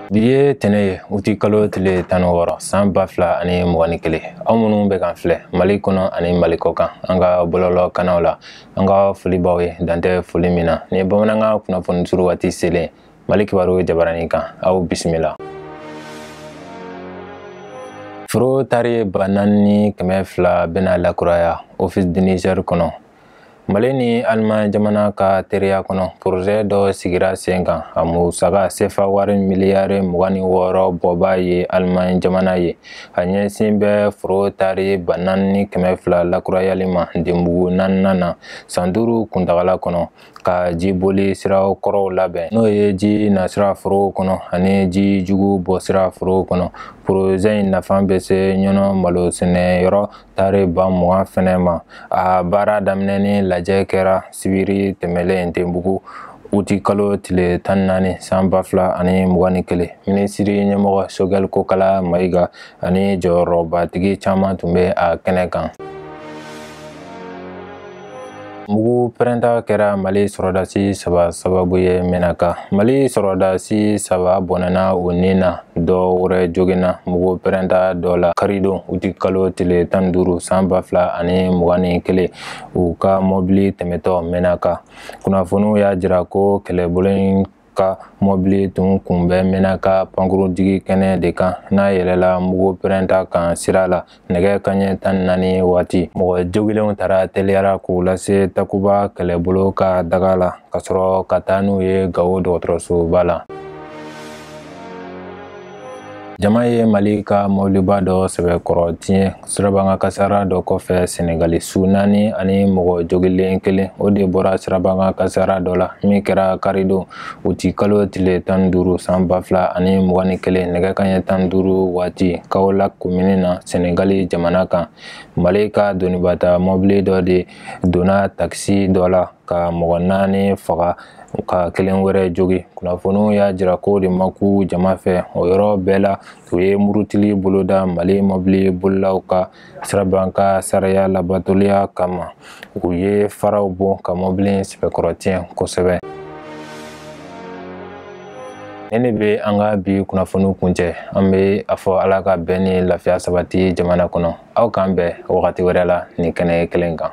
Bi ye tɛnɛ ye uti kalo tile tan wɔɔrɔ san ba fila ani mugan ni kelen aw minnu bɛ k'an filɛ mali kɔnɔ ani mali kɔkan an ka bɔlɔlɔ kannaw la an ka foli b'aw ye dan tɛ foli min na ni bamanankan kunnafoni suru waati selen mali kibaru jabarani kan aw bisimila foro taari ba naani ni kɛmɛ fila bɛna lakuraya ofisi di nizɛri kɔnɔ mali ni aliman jamana ka teriya kɔnɔ porozɛ dɔ sigira sen kan a musaka sefa wari miliyari mugan ni wɔɔrɔ bɔba ye aliman jamana ye a ɲɛsin bɛ foro taari ba naani ni kɛmɛ fila lakurayali ma ndebugu naaninan na san duuru kuntagala kɔnɔ ka jiboli sira kɔrɔw labɛn n'o ye ji nasira forow kɔnɔ ani ji jugu bɔsira forow kɔnɔ porozɛ in nafa bɛ se ɲɔnɔ malo sɛnɛ yɔrɔ taari ba mugan fɛnɛ ma a baara daminɛni lajɛ kɛra sibiri tɛmɛlen ndebugu uti kalo tile tan naani san ba fila ani mugan ni kelen minisiri ɲɛmɔgɔ sogɛl kokala mayiga ani jɔyɔrɔbatigi caman tun bɛ a kɛnɛ kan mugu pɛrɛnta kɛra mali sɔrɔdasi saba sababu ye mɛnaka mali sɔrɔdasi saba bɔnɛna u ni na dɔ wɛrɛ joginna mugu pɛrɛnta dɔ la karidon uti kalo tile tan duuru san ba fila ani mugan ni kelen u ka mɔbili tɛmɛtɔ mɛnaka kunnafoniw y'a jira ko kɛlɛbolo ka mɔbili tun kun bɛ mɛnaka pankurunjigi kɛnɛ de kan n'a yɛlɛla mugu pɛrɛnta kan sira la nɛgɛ kaɲɛ tan naani waati mɔgɔ jogilenw tara teliya la k'u lase takuba kɛlɛbolo ka daga la ka sɔrɔ ka taa n'u ye gawo dɔgɔtɔrɔsoba la jama ye mali ka mɔbiliba dɔ sɛbɛkɔrɔ tiɲɛ sirabakan kasara dɔ kɔfɛ senegali su naani ani mɔgɔ jogilen kelen o de bɔra sirabakan kasara dɔ la min kɛra karidon uti kalo tile tan duuru san ba fila ani mugan ni kelen nɛgɛ kaɲɛ tan duuru waati kawolaki komini na senegali jamana kan mali ka donibata mɔbili dɔ de donna takisi dɔ la ka mɔgɔ naani faga ka kelen wɛrɛ jogi kunnafoniw y'a jira k'o de ma kun jama fɛ o yɔrɔ bɛɛ la u ye murutili boloda mali mɔbili bolilaw ka sirabakan sariya labatoliya kama u ye faraw bon ka mɔbili sɛbɛkɔrɔ tiɲɛ kosɛbɛ nin de bɛ an ka bi kunnafoniw kuncɛ an bɛ a fɔ ala ka bɛn ni lafiya sabati jamana kɔnɔ aw k'an bɛn wagati wɛrɛ la nin kɛnɛ kelen kan